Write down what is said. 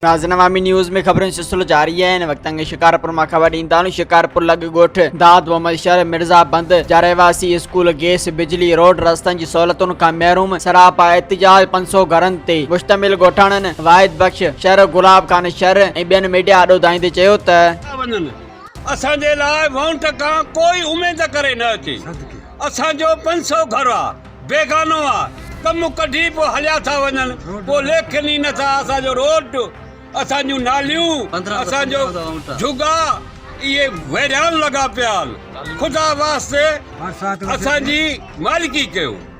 ناظرين عوامي نيوز ۾ خبرن سلسلو جاري آهي ان وقت انگ شڪارپور مان خبر ڏين ٿا شڪارپور لڳ ڳوٺ داد محمد شهر مرزا بند جا رهواسي اسڪول گيس بجلي روڊ رستن جي سهولتن کان محروم سراپا احتجاج پنج سو گهرن تي مشتمل ڳوٺاڻن واحد بخش شهر گلاب خان شهر ۽ ٻين ميڊيا آڏو ڌائيندي چيو ته اسان جي لاء وونٽ کان ڪوئي اميد ڪري نه اچي اسان جو پنج سو گهر آ بيگانو آ ڪم ڪڍي پو هليا ٿا وڃن پو ليکين ئي نه ٿا اسان جو روڊ اسان جون ناليون اسان جو جهڳا اهي ويران لڳا پيا آن خدا واسطي اسان جي مالڪي ڪيو.